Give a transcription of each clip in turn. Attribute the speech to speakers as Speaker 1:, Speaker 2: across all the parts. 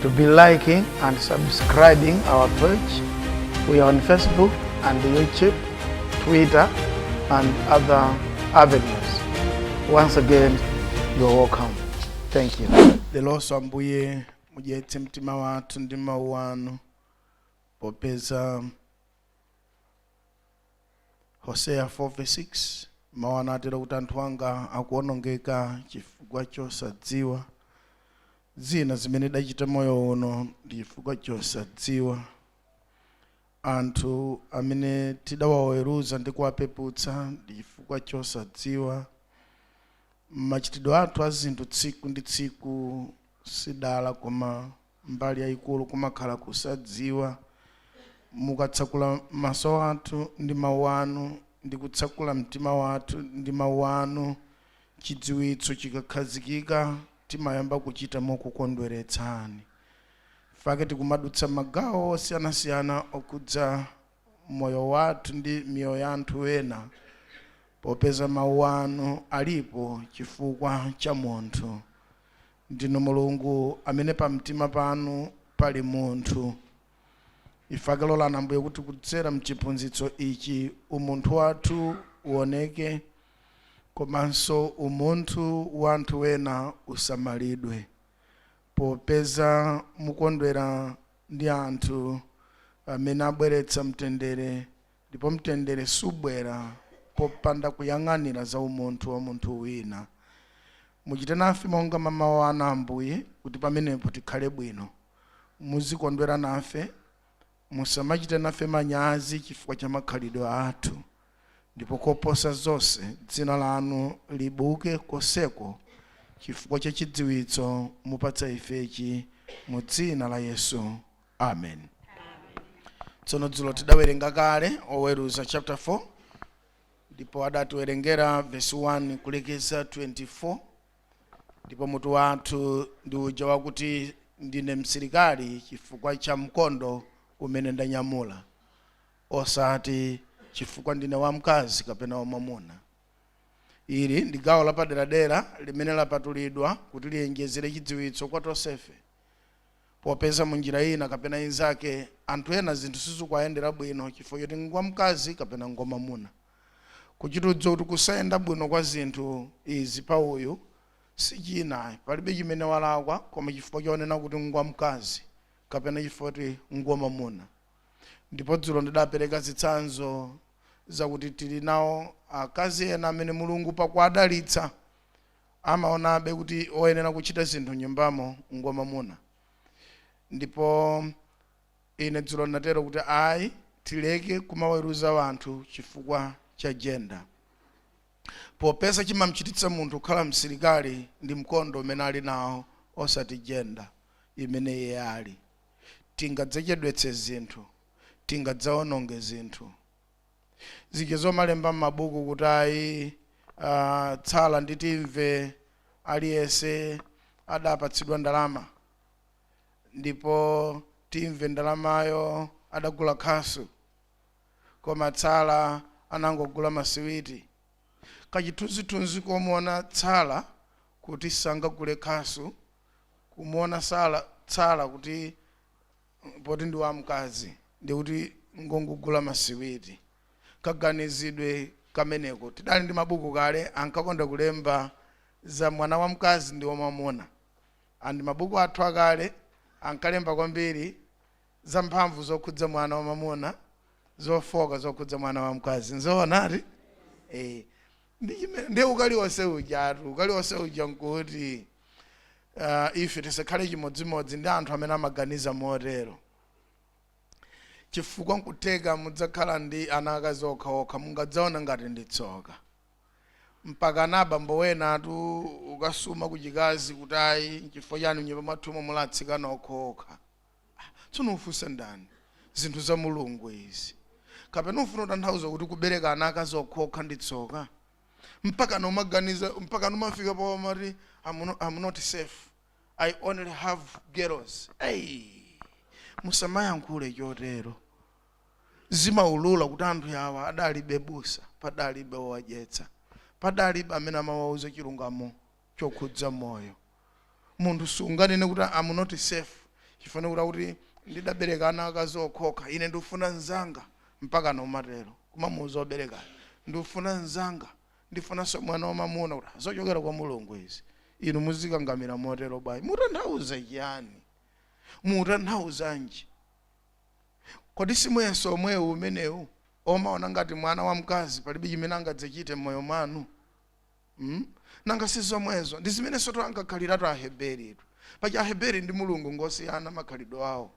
Speaker 1: to be liking and subscribing our page. We are on Facebook and YouTube, Twitter, and other avenues. Once again, you are welcome. Thank you. lelonso ambuye mudyetse mtima wathu ndi mawu anu popeza hoseya 4:6 mawu anatero kuti anthu anga akuonongeka chifukwa chosadziwa zina zimene tidachita moyo uno ndi chifukwa chosadziwa anthu amene tidawaweruza ndi kuwapeputsa ndi chifukwa chosadziwa machitidwe athu a zinthu tsiku ndi tsiku sidala koma mbali yaikulu kumakhala kusadziwa. Mukatsakula maso athu ndi Mau anu ndi kutsakula mtima wathu ndi Mau anu, chidziwitso chikakhazikika timayamba kuchita mokukondweretsani. N'chake tikumadutsa magawo osiyanasiyana okhudza moyo wathu ndi miyoyo ya anthu ena popeza Mau anu alipo chifukwa cha munthu. Ndinu Mulungu amene pamtima panu pali munthu. N'chake lolani, Ambuye, kuti kudzera mchiphunzitso ichi umunthu wathu uoneke komanso umunthu wa anthu ena usamalidwe popeza mukondwera ndi anthu amene abweretsa mtendere Ndipo mtendere subwera popanda kuyang'anira za umunthu wa munthu wina. Muchite nafe monga mwa Mau anu, Ambuye, kuti pamenepo tikhale bwino. Muzikondwera nafe, musamachite nafe manyazi chifukwa cha makhalidwe athu. Ndipo koposa zonse, dzina lanu libuke konseko chifukwa cha chidziwitso mupatsa ifechi, mu dzina la Yesu. amen tsono dzulo tidawerenga kale oweruza chapter 4 ndipo adatiwerengera verse 1 kulekeza 24 ndipo mutu wathu ndi uja wakuti ndine msilikali chifukwa cha mkondo umene ndanyamula osati chifukwa ndine wamkazi kapena wamwamuna ili ndi gawo lapaderadera limene lapatulidwa kuti liwonjezere chidziwitso kwa tonsefe popeza munjira ina kapena inzake anthu ena zinthu sizikuwayendera bwino chifukwa choti ngwamkazi kapena ngwamamuna kuchita kudziwa kuti kusayenda bwino kwa zinthu izi pa uyu sichina palibe chimene walakwa koma chifukwa chonena kuti ngwamkazi kapena chifukwa kuti ngwamamuna ndipo dzulo ndidapereka zitsanzo zakuti tili nawo akazi ena amene mulungu pakuwadalitsa amaonabe kuti woyenera kuchita zinthu m'nyumbamo ngwamwamuna. Ndipo ine dzulo ndinatero kuti ayi, tileke kumaweruza anthu chifukwa cha jenda, popeza chimamchititsa munthu kukhala msilikali ndi mkondo umene ali nawo, osati jenda imene iye ali. Tingadzachedwetse zinthu, tingadzawononge zinthu. zija zomalemba m'mabuku kuti ayi ah, tsala ndi timve aliyese adapatsidwa ndalama ndipo timve ndalamayo adagula khasu koma tsala anangogula masiwiti kachithunzithunzi komuona tsala kuti sangagule khasu kumuona sala tsala kuti poti ndi wamkazi ndiye kuti ngongogula masiwiti kaganizidwe kameneko tidali ndi mabuku kale ankakonda kulemba za mwana wamkazi ndi wamwamuna and mabuku athu akale ankalemba kwambiri za mphamvu zokhudza mwana wamwamuna zofooka zokhudza mwana wamkazi nzoonati eh ndi chimene ndi ukali wonse ujatu ukali wonse uja nkuti uh, ife tisakhale chimodzimodzi ndi anthu amene amaganiza motero chifukwa nkutheka mudzakhala ndi ana akazi okhaokha mungadzaona ngati ndi tsoka mpaka na abambo enatu kukasuma kuchikazi kuti ayi nchifukwa chani nyumba mwathumu muli atsikana okhaokha Tsono ufunsa ndani? Zinthu za Mulungu izi. Kapena ufuna kutanthauza kuti kubereka ana akazi okhaokha ndi tsoka? Mpakana umaganiza, mpakana umafika pomati I'm not, I'm not safe. I only have girls. Ei! Musamayankhule chotero. Zimaulula kuti anthu awa adalibe busa, padalibe wowadyetsa, padalibe amene amawauza chilungamo chokhudza moyo. Munthu sunganene kuti, I'm not safe chifukwa kuti akuti ndidabereka ana akazi okhaokha, ine ndikufuna mzanga. Mpakana umatero? Kumamuuza woberekayo, ndikufuna mzanga, ndifunanso mwana wamamuna kuti, zochokera kwa Mulungu izi. Inu muzikakamira motero bwanji? Mutanthauza chiyani? Mutanthauzanji? Kodi si muyeso womwewu umenewu, omaona ngati mwana wamkazi palibe chimene angadzachite mmoyo mwanu? Hmm? Nanga si zomwezo? Ndi zimenensotu ankakhaliratu Aheberitu. Paja Aheberi ndi Mulungu ngosiyana makhalidwe awo.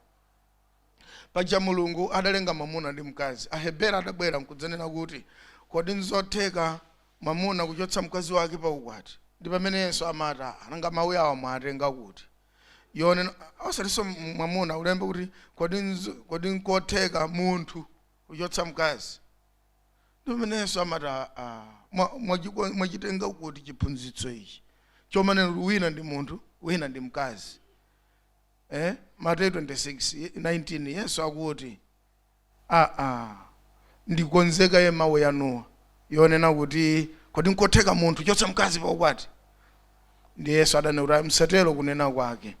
Speaker 1: Paja Mulungu adalenga mwamuna ndi mkazi. Aheberi adabwera nkudzanena kuti, Kodi nzotheka mwamuna kuchotsa mkazi wake pa ukwati? Ndi pamene Yesu amati, Aa, nanga mawu awa mwatenga kuti? Yonena, osatinso m- mwamuna, alemba kuti, kodi, nzo- kodi nkotheka munthu kuchotsa mkazi? ndi pomene Yesu amati "Ah, ah, mwa- mwachiko- mwachitenga kuti chiphunzitso ichi chomanena kuti wina ndi munthu wina ndi mkazi eh? mateyu 26 19 yesu akuti aa ndikonze kaye mawu yanuwa yonena kuti kodi nkotheka munthu kuchotsa mkazi pa ukwati ndiye yesu adanena kuti "Ayi, msatero kunena kwake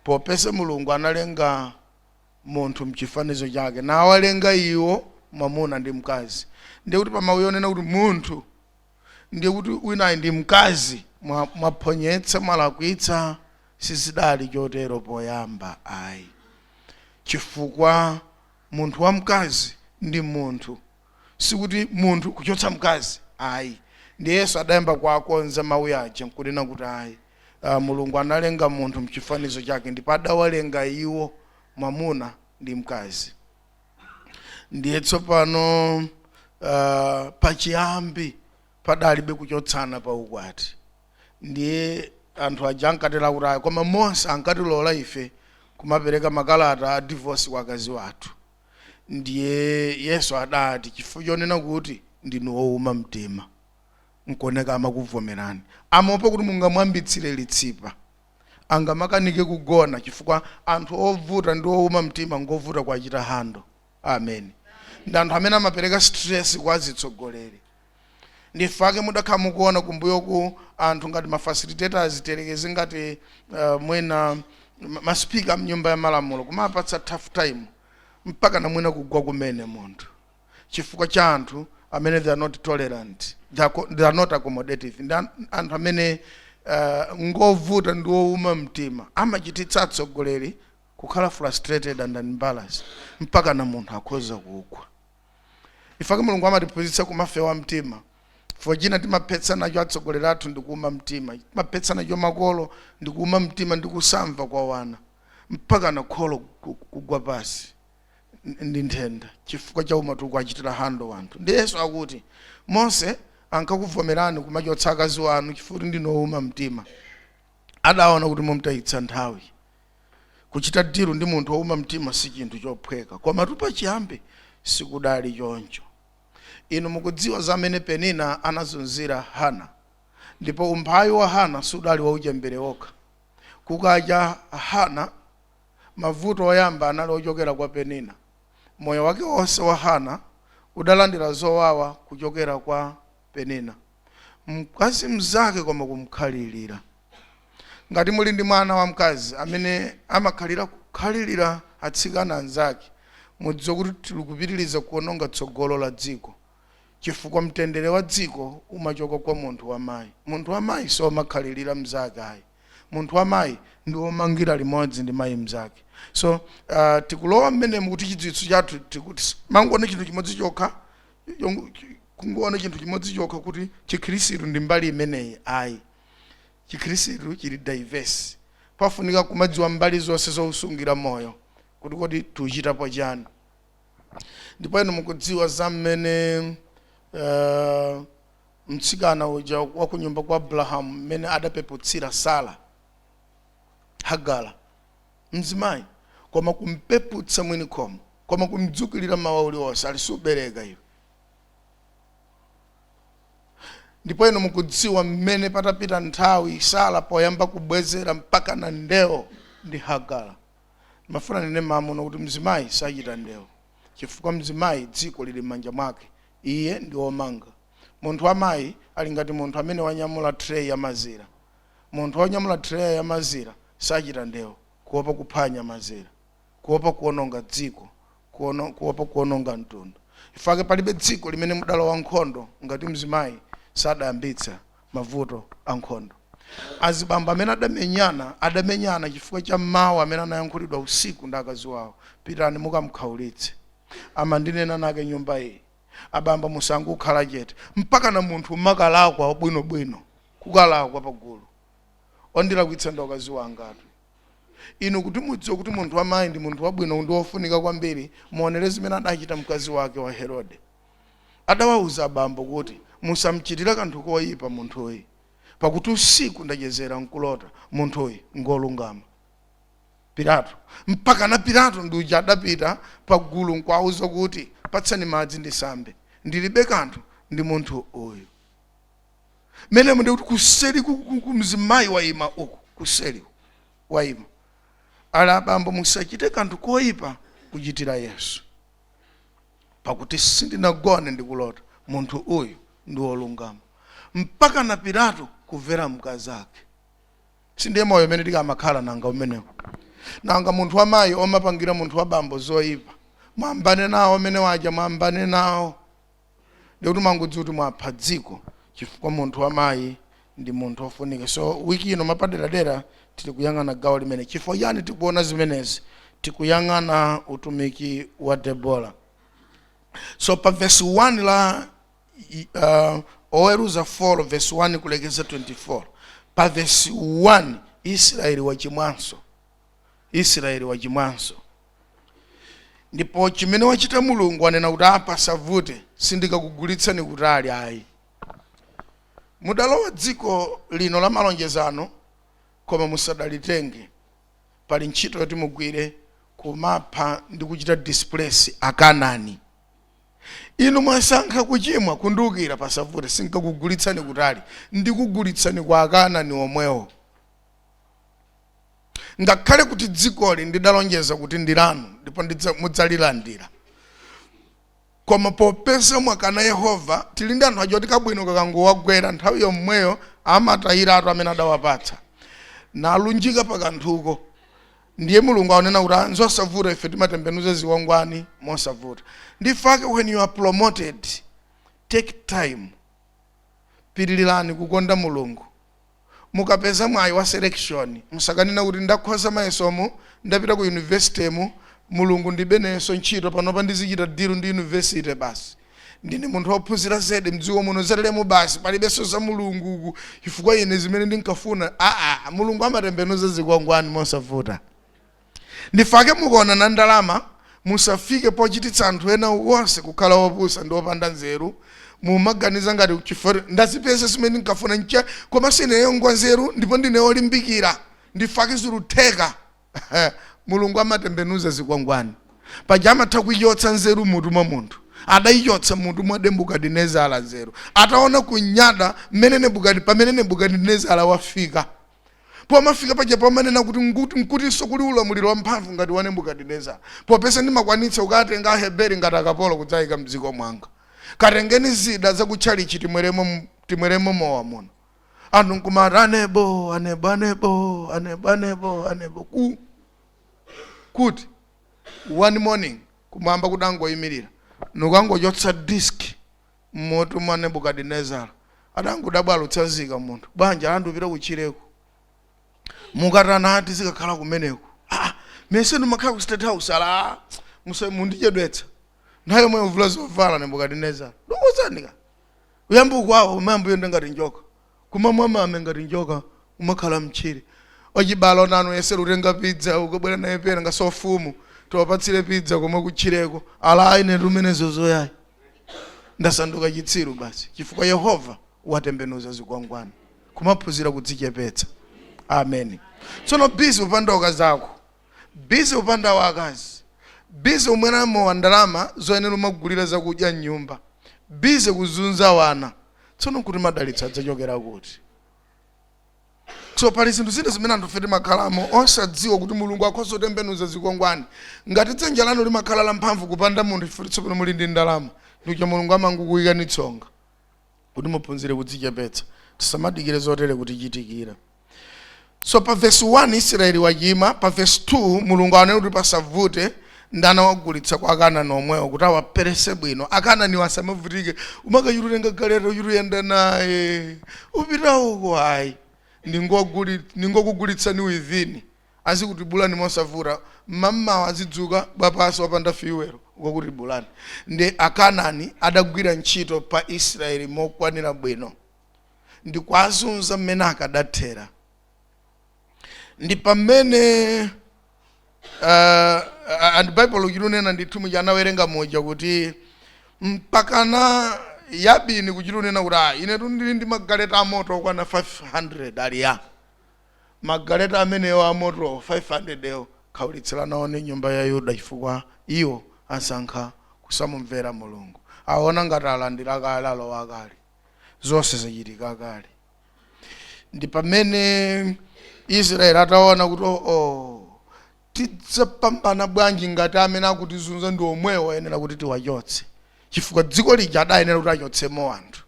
Speaker 1: popeza mulungu analenga munthu mchifanizo chake, nawalenga iwo mwamuna ndi mkazi. Ndiye kuti pa mawu ya onena kuti munthu, ndiye kuti winayi ndi mkazi, mwa- mwaphonyetsa, mwalakwitsa, sizidali chotero poyamba ayi chifukwa munthu wamkazi ndi munthu sikuti munthu kuchotsa mkazi ayi ndiye yesu adayamba kuwakonza mawu yaja nkunena kuti ayi uh, mulungu analenga munthu mchifanizo chake ndipo adawalenga iwo mwamuna ndi mkazi ndiye tsopano uh, pachiyambi padalibe kuchotsana pa ukwati ndiye anthu aja ankatela kuti ayi koma mose ankatilola ife kumapereka makalata a divorce kwa akazi wathu Ndiye Yesu adati, Chifukwa chonena kuti ndinu ouma mtima, nkuoneka amakuvomerani. Amaopa kuti mungamwambitsire litsipa. Angamakanike kugona chifukwa anthu ovuta ndi ouma mtima ngovuta kuwachita handle. Ameni. Ndi anthu amene amapereka stress kwa azitsogoleri. Ndi chifukwa chake mudakhala mukuona kumbuyoku anthu ngati ma facilitators tiyerekeze ngati uh, mwina ma- ma speaker a mnyumba ya malamulo kumawapatsa tough time mpaka na mwina kugwa kumene munthu chifukwa cha anthu amene they are not tolerant they are, co- they are not accommodative ndi an- anthu amene uh, ngovuta ndi wouma mtima amachititsa atsogoleri kukhala frustrated and embarrassed mpaka na munthu akhoza kugwa chifukwa chake mulungu amatiphunzitsa kumafewa mtima chifukwa china timaphetsa nacho atsogoleri athu ndi kuuma mtima timaphetsa nacho makolo ndi kuuma mtima ndi kusamva kwa wana mpaka na kholo ku- kugwa pasi n- ndi nthenda chifukwa cha mmene tikuwachitira handle wanthu ndiye yesu akuti mose ankakuvomerani kumachotsa akazi wanu chifukwa kuti ndinu ouma mtima adaona kuti mumtayitsa nthawi Kuchita deal ndi munthu wouma mtima si chinthu chophweka, komatu pachiyambi sikudali choncho. Inu mukudziwa za mmene Penina anazunzira Hana. Ndipo umphawi wa Hana sudali wauchembere wokha. Kukacha, Hana. Mavuto oyamba anali ochokera kwa Penina. Moyo wake wonse wa Hana udalandira zowawa kuchokera kwa. Penina. Mkazi mnzake koma kumkhalirira. Ngati muli ndi mwana wamkazi amene amakhalira kukhalirira atsikana anzake, mudziwe kuti tili kupitiriza kuononga tsogolo la dziko chifukwa mtendere wa dziko umachoka kwa munthu wa mayi. Munthu wa mayi siomakhalirira mnzake ayi. Munthu wa mayi ndi womangira limodzi ndi mayi mnzake. So, uh, tikulowa mmenemu kuti chidziwitso chathu tikuti mangonena chinthu chimodzi chokha Chongo- chi- kungoona chinthu chimodzi chokha kuti chikhristu ndi mbali imeneyi ayi chikhristu chili diverse pafunika kumadziwa mbali zonse zousungira moyo kuti kodi tiuchitapo chani ndipo inu mukudziwa za mmene uh, mtsikana uja wa ku nyumba kwa abrahamu mmene adapeputsira sara hagara mzimayi koma kumpeputsa mwini khomo koma kumdzukilira mmawa uliwonse ali subereka iwe ndipo inu mukudziwa mmene patapita nthawi sara poyamba kubwezera mpaka na ndewo ndi hagara mafuna nene mmenemo kuti mzimayi sachita ndewo chifukwa mzimayi dziko lili m'manja mwake iye ndi womanga munthu wamayi ali ngati munthu amene wanyamula tray ya mazira Munthu wonyamula treya ya mazira sachita ndewu kuopa kuphwanya mazira, kuopa kuononga dziko, kuono, kuopa kuononga mtundu. Chifukwa chake palibe dziko limene mudalowa nkhondo ngati mzimayi sadayambitsa mavuto a nkhondo. Azibambo amene adamenyana, adamenyana chifukwa cha mau amene anayankhulidwa usiku ndi akazi wawo, pitani mukamkhaulitse. Amandinena anakenyumba iyi. Abambo musangokhala chete. Mpakana munthu umakalakwa bwinobwino. kukalakwa pagulu wandilakwitsa ndi akazi angatu inu kuti mudziwe kuti munthu wamayi ndi munthu wabwino ndi wofunika kwambiri muonere zimene adachita mkazi wake wa herode adawauza abambo kuti musamchitire kanthu koyipa munthuyu pakuti usiku ndachezera nkulota munthuyu ngolungama pilato mpaka na pilato ndi uja adapita pagulu nkwauza kuti patsani madzi ndisambe ndilibe kanthu ndi munthu uyu mmenemo ndikuti kuseli ku- ku- ku mzimayi wayima uku kuseli wayima ali abambo musachite kanthu koyipa kuchitira yesu pakuti sindinagone ndikulota munthu uyu ndi wolungama mpaka na pilato kumvera mkazi ake sindiye moyo umene tikamakhala nanga umenewo nanga munthu wamayi omapangira munthu wabambo zoyipa mwambane nawo amene aja mwambane nawo ndikuti mungodziwa kuti mwapha dziko chifukwa munthu wa mayi ndi munthu ofunika so wiki ino mwapaderadera tili kuyang'ana gawo limene chifukwa chani tikuona zimenezi tikuyang'ana utumiki wa debora so pa vesi 1 la i- uh, oweruza 4 vesi 1 kulekeza 24 pa vesi 1 israeli wachimwanso israeli wachimwanso ndipo chimene wachita mulungu anena kuti aa pasavute sindikakugulitsani kutali ayi mudalowa dziko lino la malonjezano koma musadalitenge pali ntchito yoti mugwire kumapha ndi kuchita displace akanani inu mwasankha kuchimwa kundiukira pasavute sinkakugulitsani kutali ndikugulitsani kwa akanani omwewo ngakhale kuti dzikoli ndidalonjeza kuti ndi lanu ndipo ndidza- mudzalilandira koma popeza mwakana yehova tili ndi anthu aja oti kabwino kakangowagwera nthawi yomweyo amatayiratu amene adawapatsa nalunjika pakanthuko ndiye mulungu aonena kuti "Ah, nzosavuta ife timatembenuza zikwangwani mosavuta ndifake when you are promoted take time pitilirani kukonda mulungu mukapeza mwayi wa selection musakanene kuti ndakhoza mayesomu ndapita ku university mu- mulungu ndibe nayenso ntchito panopa ndizichita deal ndi university basi ndine munthu wophunzira zedi mdziko muno zateremu basi palibenso za mulungu uku chifukwa ine zimene ndinkafuna aa mulungu amatembenuza zikwangwani mosavuta Ndifake mukaonana ndi ndalama, musafike pochititsa anthu ena onse kukhala opusa ndi opanda nzeru. Mumaganiza ngati chifukwa ndazipeza zimene ndinkafuna n'cha komanso ineyo ngwanzeru ndipo ndine wolimbikira, ndifake zikutheka. Mulungu amatembenuza zikwangwani. Paja amatha kuichotsa nzeru m'mutu mwa munthu, adaichotsa m'mutu mwa Nebukadinezara nzeru ataona kunyada mmene Nebukadi pamene Nebukadinezara wafika. Pomafika paja pomanena kuti ngu- nkutinso kuli ulamuliro wamphamvu ngati wa Nebukadinezara, popeza ndimakwanitsa kukatenga Aheberi ngati akapolo kudzayika m'dziko mwanga. Katengeni zida za ku tchalitchi timweremo m- timweremo mowa muno. Anthu nkumati anebo, anebo, anebo, anebo, anebo, anebo. Ku, kuti one morning kumwamba kudangoyimirira nkukangochotsa disk m'mutu mwa Nebukadinezara. Adangodabwa alutsanzika munthu bwanji ala ndiupita kutchireku. Mukatani ati ndizikakhala kumeneku. Ah, mesa ndimakhala ku State House ala musa- mundichedwetsa. Nthawi yomweyo uvula zovala Nebukadinezara. Ndikuwuzani ka. Uyamba ukwawa umayamba uyenda ngati njoka. kumamwa mame ngati njoka kumakhala mtchire. Achibale onanu yesera kutenga pizza ukabwera naye pena nga amfumu tiwapatsire pizza komwe kutchireko. Alayi inetu zimenezo ayi. Ndasanduka chitsiru basi chifukwa Yehova watembenuza zikwangwani. Kumaphunzira kudzichepetsa. Amen. Tsono busy kupanda akazako. busy kupanda akazi, busy kumwera mowa ndalama zoyenera kumagulira zakudya mnyumba, busy kuzunza wana, tsono nkuti madalitso adzachokera kuti? so pali zinthu zina zimene anthufe timakhalamo osadziwa kuti mulungu akhoza kutembenuza zikwangwani ngati dzanja lanu limakhala lamphamvu kupanda munthu chifukwa tsopano muli ndi ndalama ndikuja mulungu amangokuyikani tsonga kuti muphunzire kudzichepetsa tisamadikire zotere kutichitikira so pa vesi 1 israeli wachima pa vesi 2 mulungu anene kuti pasavute ndinawagulitsa kwa akanani omwewo kuti awaperese bwino akananiwo asamavutike kumakachita kutenga galeta kuchita kuyenda naye kupita uko ayi ndingoguli- ndingokugulitsani within azikutibulani mosavuta mmammawa azidzuka wapansi opanda fuel kukakutibulani nde akanani adagwira ntchito pa Israel mokwanira bwino ndikwazunza mmene akadathera ndi pamene uh, and bible kuchita kunena ndithu muja anawerenga muja kuti mpakana yabini kuchita kunena kuti ah, inetu ndili ndi magaleta amoto okwana 500 ali ya Magaleta amenewo a moto 500 okhaulitsira nawo nyumba ya Yuda, chifukwa iwo asankha kusamumvera Mulungu. Awona ngati alandira kale, alowa kale. Zonse zachitika kale. Ndi pamene Israeli ataona kuti, Oh, oh, tidzapambana bwanji ngati amene akutizunza ndi omwewo oyenera kuti tiwachotse? Chifukwa dziko lija adayenera kuti achotsemo anthu.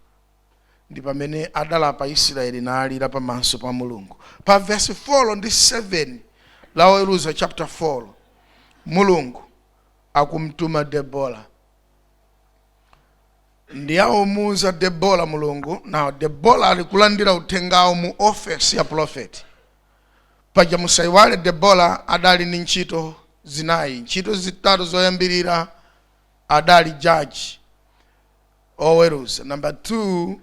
Speaker 1: ndi pamene adalapa Israeli nalira pamaso pa Mulungu. Pa vesi 4 ndi 7 la Oweruza chapter 4, Mulungu akumtuma Debora ndi akumuuza Debora Mulungu. Now Debora ali kulandira uthengawo mu ofesi ya profeti paja. musaiwale Debora adali ndi ntchito zinayi, ntchito zitatu zoyambirira adali jaji, oweruza, number 2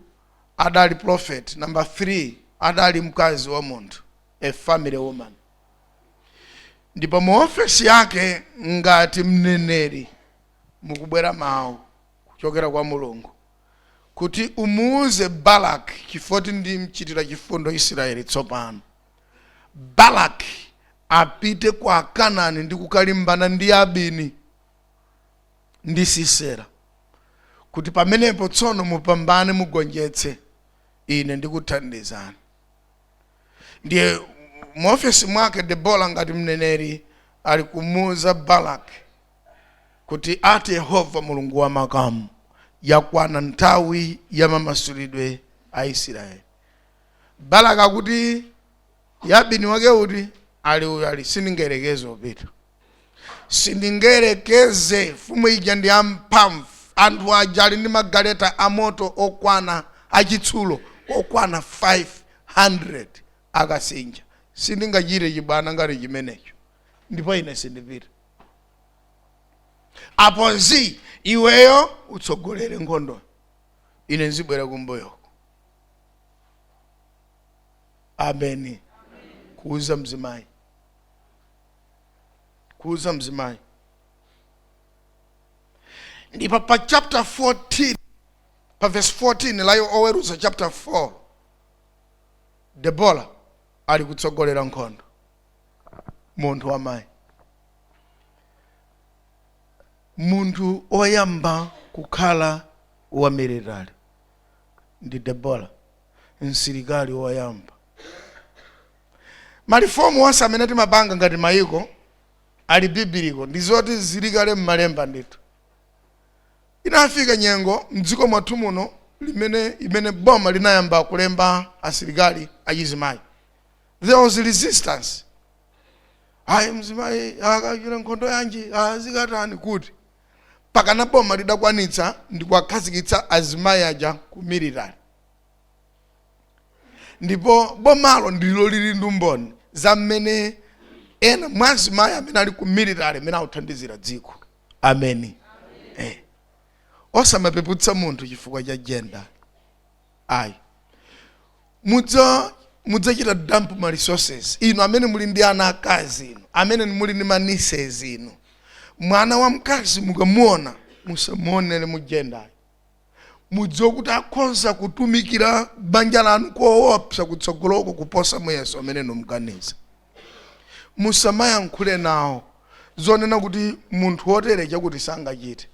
Speaker 1: adali prophet, number 3 adali mkazi wa munthu, a family woman. Ndipo mu ofesi yake ngati mneneri mukubwera mawu kuchokera kwa Mulungu kuti umuuze Baraki chifoti ndimchitira chifundo Israeli tsopano. Baraki apite kwa Akanani ndi kukalimbana ndi Yabini. ndi Sisera, kuti pamenepo tsono mupambane mugonjetse, ine ndikuthandizani. Ndiye mu ofesi mwake Debora ngati mneneri ali kumuuza Baraki kuti ati Yehova Mulungu wa makamu, yakwana nthawi ya mamasulidwe a Isiraeli. Baraki akuti Yabini wake uti ali uyo ali sindingayerekeze kupita sindingayerekeze mfumu ija ndi yamphamvu anthu aja ali ndi magaleta amoto okwana achitsulo okwana 500 akasinja sindingachite chibwana ngati chimenecho ndipo ine sindipita apo si iweyo utsogolere nkhondo ine nzibwera kumbuyo ameni kuuza mzimayi kuuza mzimayi ndipo pa chapter 14 pa verse 14 la oweruza chapter 4 debora ali kutsogolera nkhondo munthu wamayi munthu oyamba kukhala wa military ndi debora msilikali woyamba malifomu onse amene timapanga ngati mayiko ali biblical ndi zoti zili kale m'malemba ndithu inafika nyengo mdziko mwathu muno limene imene boma linayamba kulemba asilikali achizimayi there was resistance ayi mzimayi akachite nkhondo yanji azikatani kuti pakana boma lidakwanitsa ndikuwakhazikitsa azimayi aja ku military ndipo bomalo ndilo lili ndi umboni wa mmene ena mwa azimayi amene ali ku military amene akuthandizira dziko ameni eh. osamapeputsa munthu chifukwa cha jenda ayi mudza mudzachita dump ma resources inu amene muli ndi ana akazi inu amene muli ndi ma nieces inu mwana wamkazi mukamuona musamuonere mujendayo mudziwe kuti akhoza kutumikira banja lanu koopsa kutsogoloko kuposa muyeso umene inu muganiza musamayankhule nawo zonena kuti munthu wotere chakuti sangachite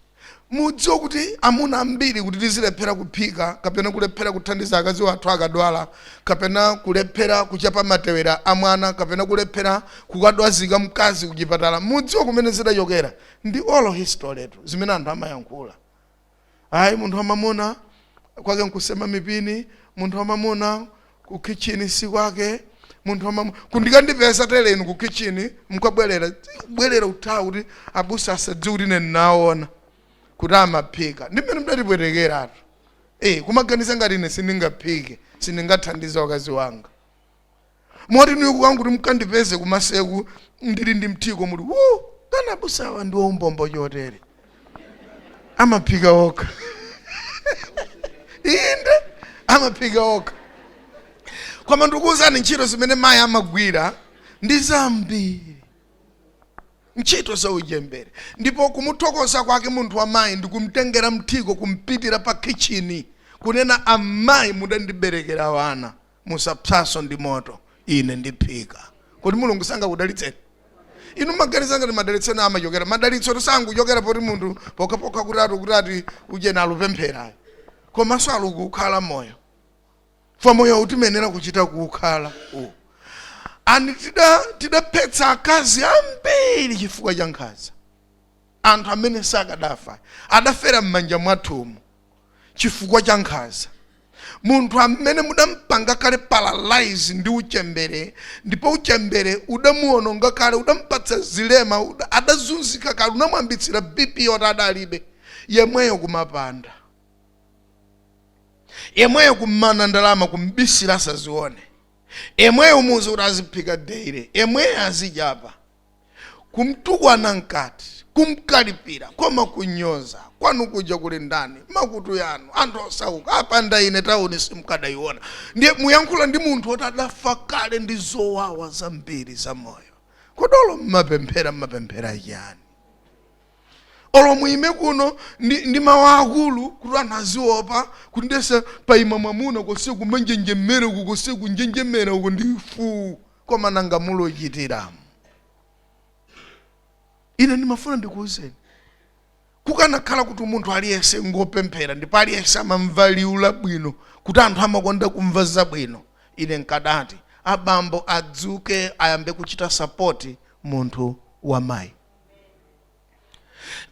Speaker 1: mudziwe kuti amuna ambiri kuti tizilephera kuphika kapena kulephera kuthandiza akazi wathu akadwala kapena kulephera kuchapa matewera a mwana kapena kulephera kukadwazika mkazi kuchipatala mudziwe kumene zidachokera ndi oral history tu zimene anthu amayankhula ayi munthu wamamuna kwake nkusema mipini munthu wamamuna ku kitchen si kwake munthu wamamuna kundikandipeza tele inu ku kitchen mkabwerera bwerera uthawa kuti abusa asadziwe kuti ine ndinaona kuti amaphika ndi mmene mdatipwetekeratu eh kumaganiza ngati ine sindingaphike sindingathandize wakazi wanga moti ine kukangoti mukandipeze kumaseriku ndili ndi mthiko muti uwu kani abusawa ndi waumbombo chotere amaphika okha inde amaphika okha koma ndikuwuzani ntchito zimene mayi amagwira ndi zambiri ntchito za uchembere ndipo kumuthokoza kwake munthu wamayi ndikumtengera mthiko kumpitira pa khichini kunena amayi mudandiberekera wana musapsanso ndi moto ine ndiphika kodi mulungu sangakudalitseni inu mmaganiza ngati madalitso ena amachokera madalitso sakuchokera poti munthu pokhapokha kuti ati kuti ati ujeni alupempherayo komanso alukukhala moyo fa moyo utimenera kuchita kuukhala uwu ani tida tidaphetsa akazi ambiri chifukwa cha nkhanza anthu amene sakadafa adafera m'manja mwathumu chifukwa cha nkhanza. Munthu amene mudampanga kale paralyze ndi uchembere ndipo uchembere udamuononga kale, udampatsa zilema, uda- adazunzika kale, unamuyambitsira BP yoti adalibe, yemweyo kumapanda, yemweyo kummana ndalama kumbisira asazione, yemweyo umuuze kuti aziphika daily, yemweyo azichapa kumtukwana mkati kumkalipira koma kunyoza kwanu kuja kuli ndani makutu yanu anthu osauka apanda ine tauni simkadayiona ndiye muyankhula ndi munthu oti adafa kale ndi zowawa zambiri za moyo kodi olo mmapemphera mmapemphera chiyani olo muime kuno ndi, ndi mawu akulu kuti anthu aziopa kuti ndiyesa paima mwamuna konse kumanjenjemera uku konse kunjenjemera uku ndi fuu Koma nanga muluchita? Ine ndimafuna ndikuwuzeni, kukanakhala kuti munthu aliyense ngopemphera ndipo aliyense amamva liwu labwino, kuti anthu amakonda kumva zabwino, ine nkadati abambo adzuke ayambe kuchita sapoti munthu wa mayi.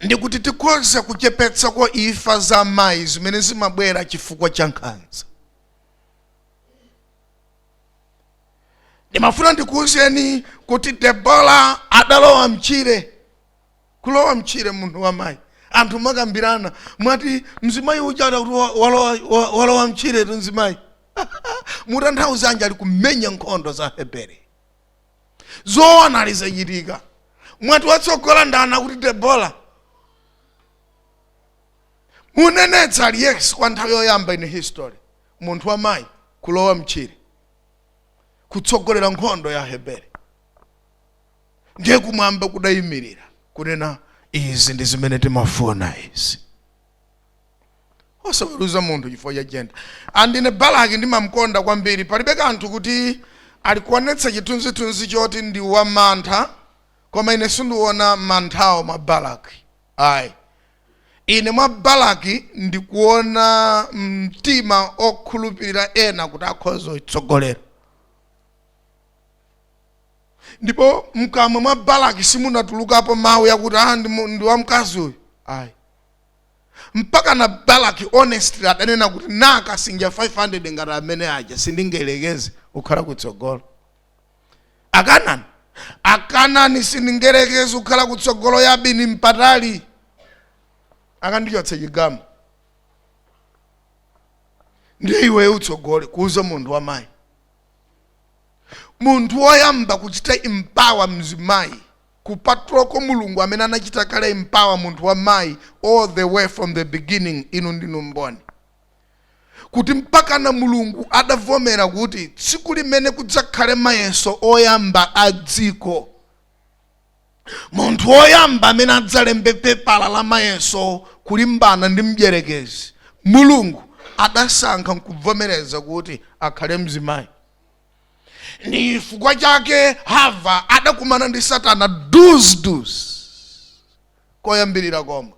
Speaker 1: Ndikuti tikhoza kuchepetsako imfa za amayi zimene zimabwera chifukwa cha nkhanza. ndimafuna ndikuwuzeni kuti debora adalowa mtchire kulowa mtchire munthu wamayi anthu makambirana mwati mzimayi ujatu akuti wa- walowa- wa- walowa mtchiretu mzimayi mutanthauzanji ali kumenya nkhondo za aheberi zoona alizachitika mwati watsogola ndani akuti debora munenetsa ali yes kwa nthawi yoyamba in history munthu wa mayi kulowa mtchire kutsogolera nkhondo ya Aheberi ndiye kumwamba kudayimirira kunena izi ndi zimene timafuna izi osaweruza munthu chifukwa cha jenda and ine balaki ndimamkonda kwambiri palibe kanthu kuti ali kuonetsa chithunzithunzi choti ndi wamantha koma ine sindiona manthawo mwa balaki ayi Ine mwa Balaki ndikuona mtima okhulupirira ena kuti akhoza kutsogolera. Ndipo mkamwa mwa Balaki simunatulukapo mawu akuti ah ndi mu- ndi wamkazi uyu. Ayi. Mpakana Balaki honestly adanena kuti na akasinja 500 ngati amene aja sindingayerekeze kukhala kutsogolo. akanani akanani sindingayerekeze kukhala kutsogolo yabini mpatali akandichotse chigamu ndiye iwe utsogole kuuza munthu wamayi munthu woyamba kuchita empower mzimayi kupatulako mulungu amene anachita kale empower munthu wamayi all the way from the beginning inu ndinu mboni kuti mpakana Mulungu adavomera kuti tsiku limene kudzakhale mayeso oyamba a dziko, munthu woyamba amene adzalembe pepala la mayeso kulimbana ndi mdyerekezi, Mulungu adasankha nkuvomereza kuti akhale mzimayi. Ndi chifukwa chake Hava adakumana ndi Satana duz-duz koyambirira komwe.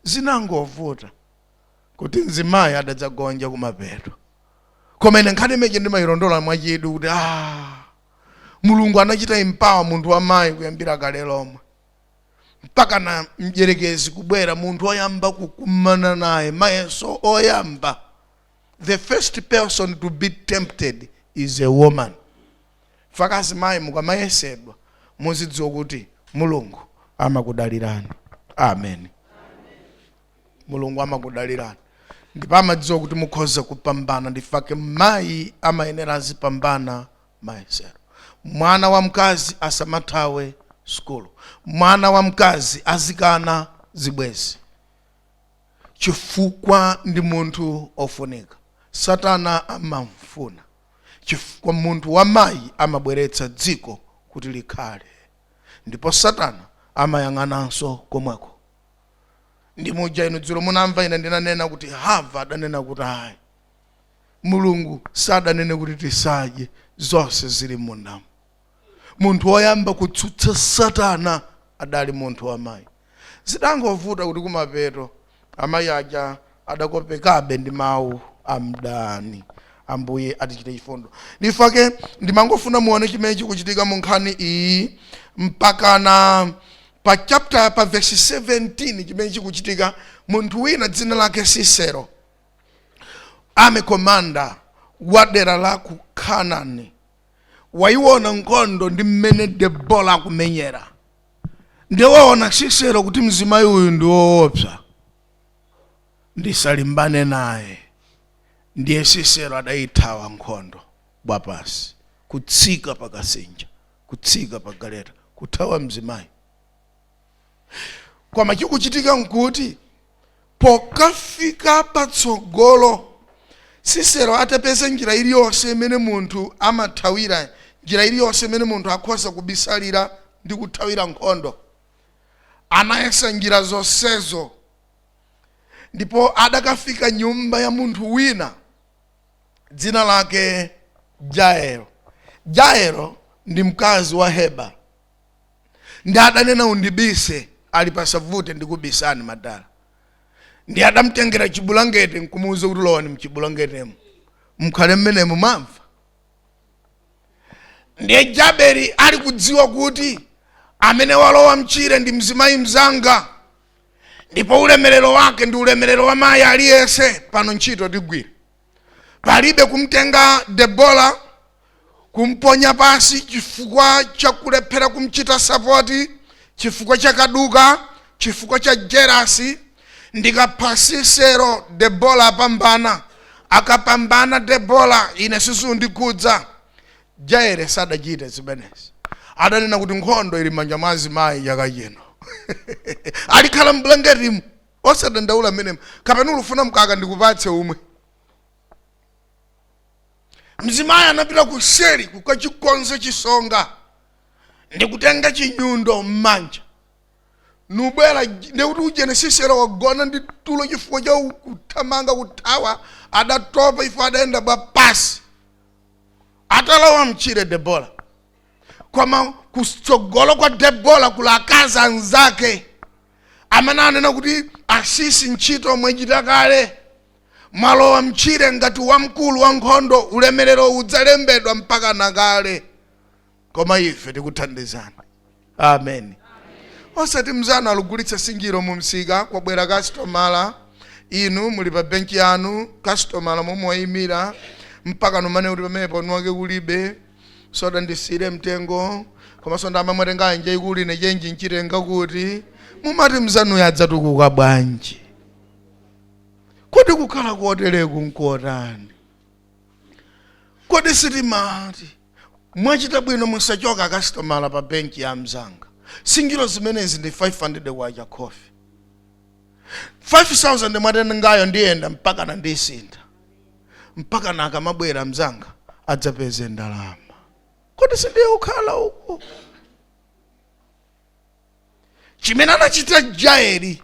Speaker 1: Zinangovuta. kuti mzimayi adadzagonja kumapeto koma ine nkhani imene ija ndimayilondola mwachidwi kuti ah, mulungu anachita empower munthu wamayi kuyambira kale lomwe mpakana mdyerekezi kubwera munthu oyamba kukumana naye mayeso oyamba the first person to be tempted is a woman fukwa azimayi mukamayesedwa muzidziwa kuti mulungu amakudalirani amen mulungu amakudalirani ndipo amadziwa kuti mukhoza kupambana ndifake mayi amayenera azipambana mayesero mwana wamkazi asamathawe sukulu mwana wamkazi azikana zibwezi chifukwa ndi munthu ofunika satana amamfuna chifukwa munthu wamayi amabweretsa dziko kuti likhale ndipo satana amayang'ananso komweko ndiye muja inu dzulo munamva ine ndinanena kuti hava adanena kuti ayi mulungu sadanene kuti tisadye zonse zili mundamu munthu woyamba kutsutsa satana adali munthu wamayi zidangovuta kuti kumapeto amayi aja adakopekabe ndi mawu a mdani. Ambuye atichitire chifundo. Ndifake ndimangofuna muone chimene chikuchitika mu nkhani iyi mpakana pa chapter pa verse 17 chimene chikuchitika munthu wina dzina lake Sisero amene komanda wa dera la ku Kanani wayiona nkhondo ndi mmene Debora akumenyera ndiye waona Sisero kuti mzimayi uyu ndi woopsa ndisalimbane naye ndiye sisero adayithawa nkhondo wapansi kutsika pa kasinja kutsika pa galeta kuthawa mzimayi koma chikuchitika nkuti pokafika patsogolo sisero atapeza njira iliyonse imene munthu amathawira njira iliyonse imene munthu akhoza kubisalira ndi kuthawira nkhondo anayesa njira zonsezo ndipo adakafika nyumba ya munthu wina dzina lake jaelo jaelo ndi mkazi wa heba ndiye adanena undibise ali pasavute ndikubisani madala ndiye adamtengera chibulangete nkumuuza kuti lowani mchibulangetemo mkhale mmenemo mamva ndiye jaeli ali kudziwa kuti amene walowa mchire ndi mzimayi mzanga ndipo ulemerero wake ndi ulemerero wa mayi aliyense pano ntchito tigwira palibe kumtenga debora kumponya pansi chifukwa cha kulephera kumchita sapoti chifukwa cha kaduka chifukwa cha jerasi ndikapha sisero debora apambana akapambana debora ine sizikundikhudza jaere sadachite zimenezi adanena kuti nkhondo ili m'manja mwa azimayi chaka chino ali khalani mbulangetimu osadandaula mmenemo kapena ukufuna mkaka ndikupatse umwe mzimayi anapita kuseri kukachikonza chisonga ndikutenga chinyundo m'manja nubwera ndekuti uje Sisera wagona ndi tulo chifukwa cha kuthamanga kuthawa adatopa ife adayenda bwa pansi atalowa mtchire debora koma kutsogolo kwa debora kuli akazi anzake amene anena kuti asisi ntchito mwachita kale mwalowa mtchire ngati wamkulu wa nkhondo ulemerero udzalembedwa mpaka na kale koma ife tikuthandizani amen osati mzanu akugulitsa sinjiro mu msika kwabwera kasitomala inu muli pa benki yanu kasitomala momwe wayimira mpaka mumanena kuti pamenepo mwinake kulibe soda ndisire mtengo komanso ndama mwatenga anje mulibe chenji nchitenga kuti mumati mzanuyo adzatukuka bwanji kodi kukhala kotereku nkotani kodi sitimati Mwachita bwino musachoke akasitomala pa bench ya amzanga. Sinjiro zimenezi ndi K500 khofi. K5000 mwatengayo ndiyenda mpakana ndisintha. Mpakana akamabwera amzanga adzapeze ndalama. Kodi sindiye kukhala uku? Chimene adachita Jaeli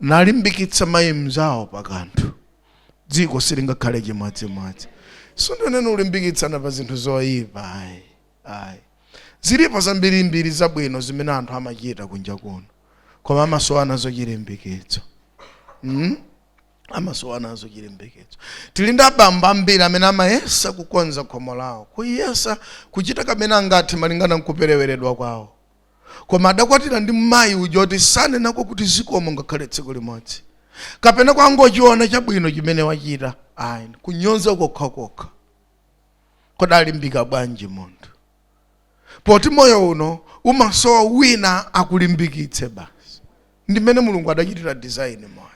Speaker 1: nkulimbikitsa mayi mnzawo pa kanthu, dziko silingakhale chimodzimodzi. Sindinene kulimbikitsana pa zinthu zoyipa ayi, ayi. Zilipo zambirimbiri zabwino zimene anthu amachita kunja kuno, koma amasowa nazo chilimbikitso. Mm? amasowa nazo chilimbikitso tili ndi abambo ambiri amene amayesa kukonza khomo lawo kuyesa kuchita kamene angathe malingana nkupereweredwa kwawo koma adakwatira ndi mayi uja oti sanenako kuti zikomo ngakhale tsiku limodzi kapena kungochiona chabwino chimene wachita ayi kunyonza kokhakokha kodi alimbika bwanji munthu poti moyo uno umasowa wina akulimbikitse basi ndimene mulungu adachitira design moyo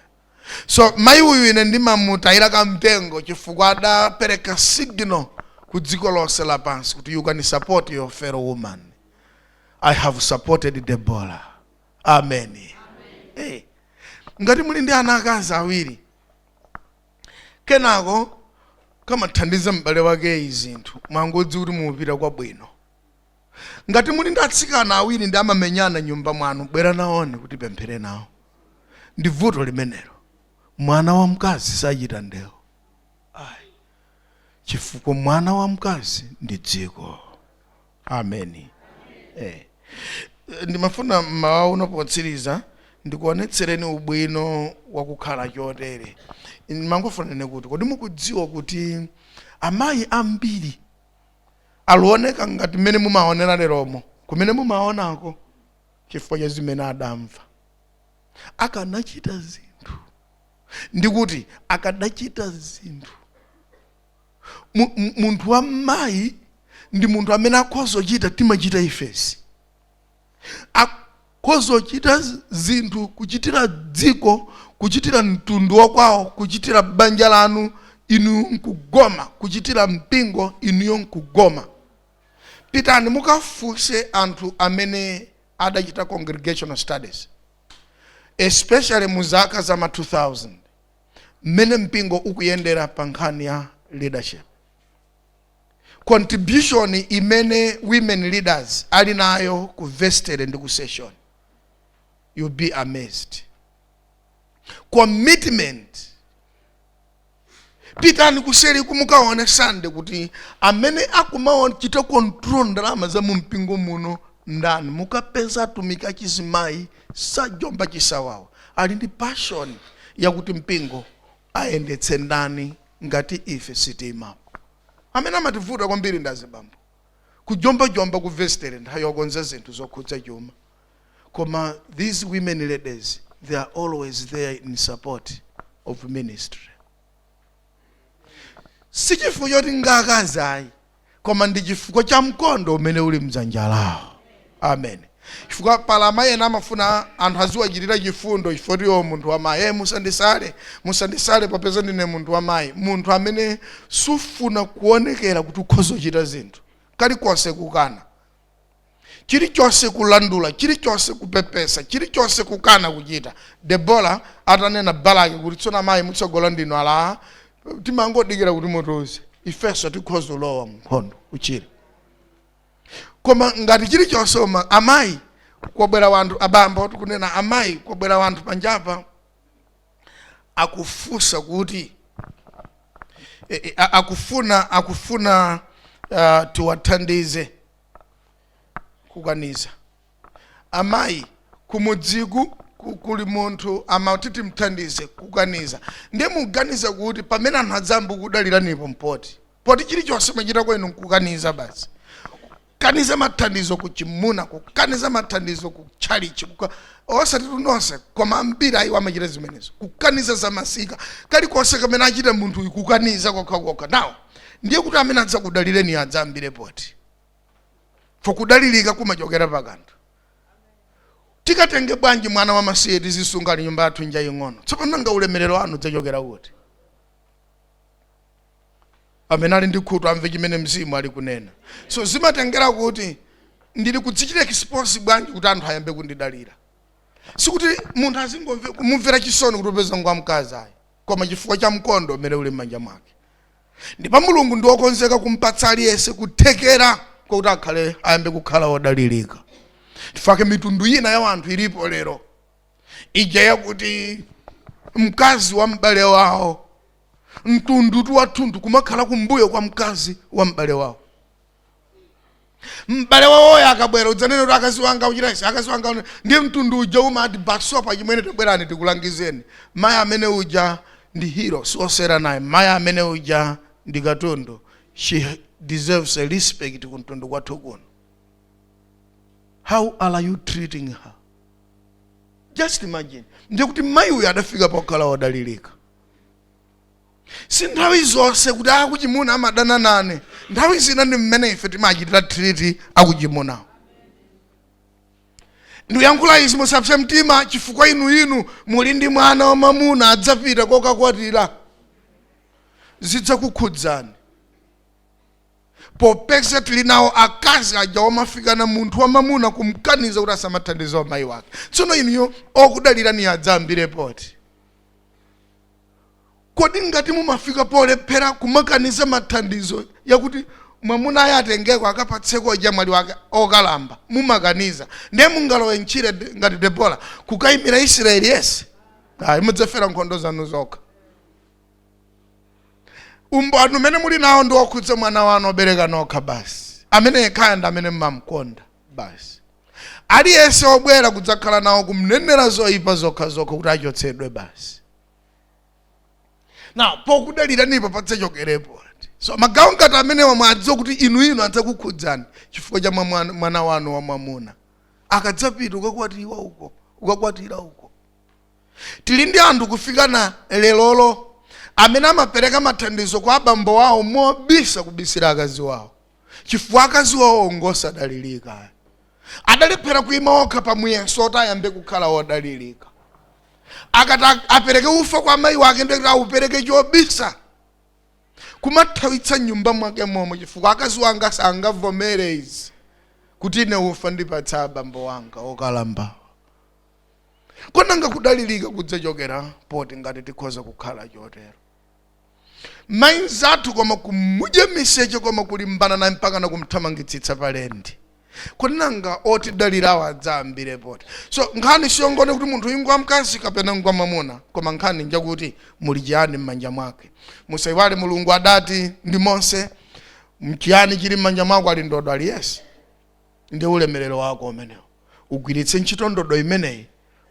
Speaker 1: so mayi uyu ine ndimamutayira kamtengo chifukwa adapereka signal ku dziko lonse lapansi kuti you can support your fellow woman i have supported debora amen, Eh, ngati muli ndi ana akazi awiri kenako akamathandiza m'bale wakeyo zinthu mungodziwa kuti mukupita kwabwino ngati muli ndi atsikana awiri ndiye amamenyana m'nyumba mwanu bwera nawoni kuti tipemphere nawo ndi vuto limenelo mwana wamkazi sachita ndewo ayi chifukwa mwana wamkazi ndi dziko ameni eh. ndimafuna mmawa uno potsiriza ndikuonetsereni ubwino wakukhala chotere ndimangofunane kuti kodi mukudziwa kuti amayi ambiri akuoneka ngati mmene mumaonera leromo kumene mumaonako chifukwa cha zimene adamva akanachita zinthu ndikuti akanachita zinthu Mu- mu- munthu wa mmayi ndi munthu amene akhoza kuchita timachita ifesi akhoza kuchita z- zinthu kuchitira dziko kuchitira mtundu wakwawo kuchitira banja lanu inuyo nkugoma kuchitira mpingo inuyo nkugoma pitani mukafunse anthu amene adachita congregational studies especially mu zaka za ma 2000 mmene mpingo ukuyendera pa nkhani ya leadership contribution imene women leaders ali nayo ku vestere ndi ku session you'll be amazed commitment pitani kuseri mukaone sande kuti amene akumachita control ndalama za mu mpingo muno ndani mukapeza atumiki achizimayi Sajomba chisawawa ali ndi passion yakuti mpingo ayendetse ndani ngati ife sitiimapo. Amene amativuta kwambiri ndi azibambo. Kujombajomba ku vesitere nthawi yokonza zinthu zokhudza chuma koma these women leaders they are always there in support of ministry. Sichifukwa choti ndi akazi ayi. koma ndi chifukwa cha mkondo umene uli mdzanja lawo amen chifukwa pali amayi ena amafuna anthu aziwachitira chifundo chifukwa choti iwo munthu wamayi e musandisale musandisale popeza ndine munthu wamayi munthu amene sufuna kuonekera kuti ukhoza kuchita zinthu kalikonse kukana chilichonse kulandula chilichonse kupepesa chilichonse kukana kuchita debora atanena balaki kuti tsono amayi mutsogola ndinu alaa timangodikira kuti mutiuze ifenso tikhoza kulowa mnkhondo uchire koma ngati chilichonse uma amayi kwabwera wanthu abambo akunena amayi kwabwera wanthu panjapa akufunsa kuti e, e, a- akufuna akufuna uh, tiwathandize kukaniza amayi kumudziku ku- kuli munthu amati timthandize kukaniza ndiye muganiza kuti pamene anthu adzayambe kudaliranipo ndi poti poti chilichonse mwachita kwenu nkukaniza basi kukaniza mathandizo ku chimuna kukaniza mathandizo ku tchalichi kuka- osatitu nonse koma ambiri ayiwo amachita zimenezo kukaniza zamasika kalikonse kamene achita munthu uyu kukaniza kokhakokha now ndiye kuti amene adzakudalireniyo adzayambire poti fo kudalirika kumachokera pa kanthu tikatenge bwanji mwana wa masiye tizisunga ali nyumba yathu njaing'ono tsopano nanga ulemerero wanu udzachokera kuti amene ali ndi khutu amve chimene mzimu ali kunena so zimatengera kuti ndili kudzichita expose bwanji kuti anthu ayambe kundidalira sikuti munthu azingomve- kumumvera chisoni kuti popeza ngwa mkazi ayi koma chifukwa cha mkondo umene uli m'manja mwake ndipo mulungu ndi wokonzeka kumpatsa aliyense kuthekera kwakuti akhale ayambe kukhala wodalirika chifukwa mitundu ina ya wanthu ilipo lero ija yakuti mkazi wa m'bale wawo mtundutu wathunthu kumakhala kumbuyo kwa mkazi wa m'bale wawo m'bale wawoyo akabwera udzanene kuti akazi wanga uchita izi akazi wanga une- ndi mtundu uja umati basopa chimwene tabwerani tikulangizeni mayi amene uja ndi hero siosewera naye mayi amene uja ndi katundu she deserves a respect ku mtundu kwathu kuno how are you treating her just imagine ndiye kuti mayi uyu adafika pokhala odalirika si nthawi zonse kuti akuchimuna amadana nane nthawi zina ndi mmene ife timachitira treat akuchimunawo ndikuyankhula izi musapse mtima chifukwa inu inu muli ndi mwana wamamuna adzapita kokakwatira zidzakukhudzani popeza tili nawo akazi aja omafikana munthu wamamuna kumkaniza kuti asamathandize amayi wake tsono inuyo okudaliraniyo adzayambire poti kodi ngati mumafika polephera kumakaniza mathandizo yakuti mwamuna ayi atengeko akapatseko ojamwali wake okalamba mumakaniza ndiye mungalowe ntchire de- ngati debora kukayimira israeli yese ayi mudzafera nkhondo zanu zokha umboni umene muli nawo ndi wokhudza mwana wanu obereka nokha basi amene yekhaya ndi amene mumamkonda basi aliyense obwera kudzakhala nawo kumnenera zoyipa zokha zokha kuti achotsedwe basi na pokudaliranipo padzachokere poti so magawo ngati amenewa mwadziwa kuti inu inu adzakukhudzani chifukwa cha mwamwana- mwana wanu wamwamuna akadzapita ukakwatiwa uko ukakwatira uko tili ndi anthu kufikana lerolo amene amapereka mathandizo kwa abambo wawo mobisa kubisira akazi wawo chifukwa akazi awo ngosadalirika adalephera kuima okha pa muyeso oti ayambe kukhala odalirika akati a- apereke ufa kwa amayi wake ndikuti aupereke chobisa kumathawitsa m'nyumba mwake momwo chifukwa akazi anga sangavomere izi kuti ine ufa ndipatse abambo wanga okalambawa ko nanga kudalirika kudzachokera poti ngati tikhoza kukhala chotero mayi mnzathu koma kumudya miseche koma kulimbana naye mpaka nakumthamangitsitsa pa lendi kodi nanga otidalirawo adzayambire poti so nkhani siyongonena kuti munthu uyu ngwa mkazi kapena ngwa mwamuna koma nkhani njakuti muli chiyani m'manja mwake musayiwale mulungu adati ndi Mose nchiyani chili m'manja mwako ali ndodo ali yes ndi ulemerero wako umenewo ugwiritse ntchito ndodo imeneyi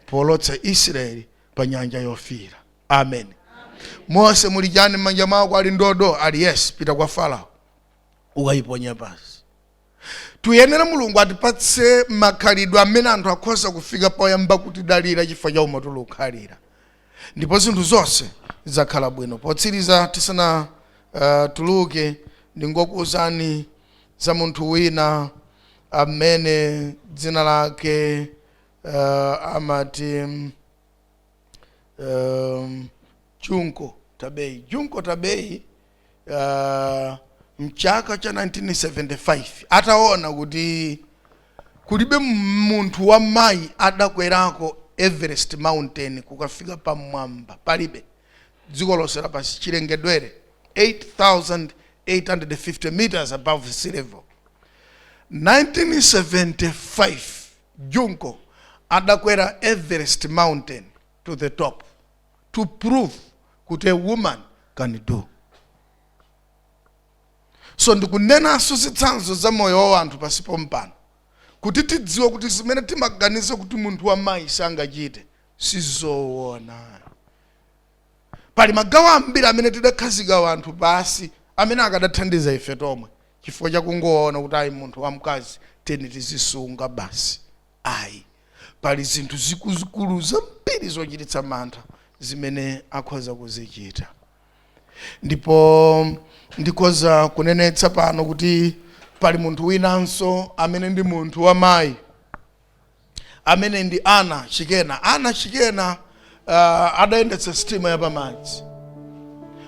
Speaker 1: powolotsa israeli pa nyanja yofiira amen mose muli chani m'manja mwako ali ndodo ali yes pita kwa farao ukayiponya pansi tiyenera mulungu atipatse makhalidwe amene anthu akhoza kufika poyamba kutidalira chifukwa cha umo tulikukhalira Ndipo zinthu zonse zidzakhala bwino. Potsiriza tisanatuluke, ndingokuuzani za munthu wina amene dzina lake amati Junko Tabei. Junko Tabei. uh, mchaka cha 1975 ataona kuti kulibe munthu wa mayi adakwerako everest mountain kukafika pamwamba palibe dziko lonse lapansi chilengedwere 8850 meters above sea level 1975 junko adakwera everest mountain to the top to prove kuti a woman can do so ndikunenanso zitsanzo za moyo wa wanthu pansi pompano kuti tidziwe kuti zimene timaganiza kuti munthu wa mayi sangachite sizoona pali magawo ambiri amene tidakhazika wanthu pansi amene akadathandiza ife tomwe chifukwa chakungoona kuti ali munthu wamkazi teni tizisunga basi Ayi. Pali zinthu zikuluzikulu zambiri zochititsa mantha zimene akhoza kuzichita. Ndipo ndikhoza kunenetsa pano kuti pali munthu winanso amene ndi munthu wamayi amene ndi Anna Chikena. Anna Chikena uh, adayendetsa sitima yapamadzi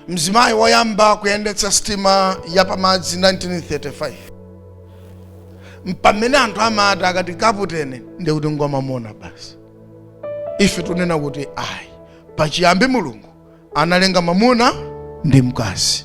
Speaker 1: mzimayi woyamba kuyendetsa sitima yapamadzi 1935 mpamene anthu amati akati kaputeni ndikuti ngwamamuna basi ife tunena kuti ayi pachiyambi mulungu analenga mamuna ndi mkazi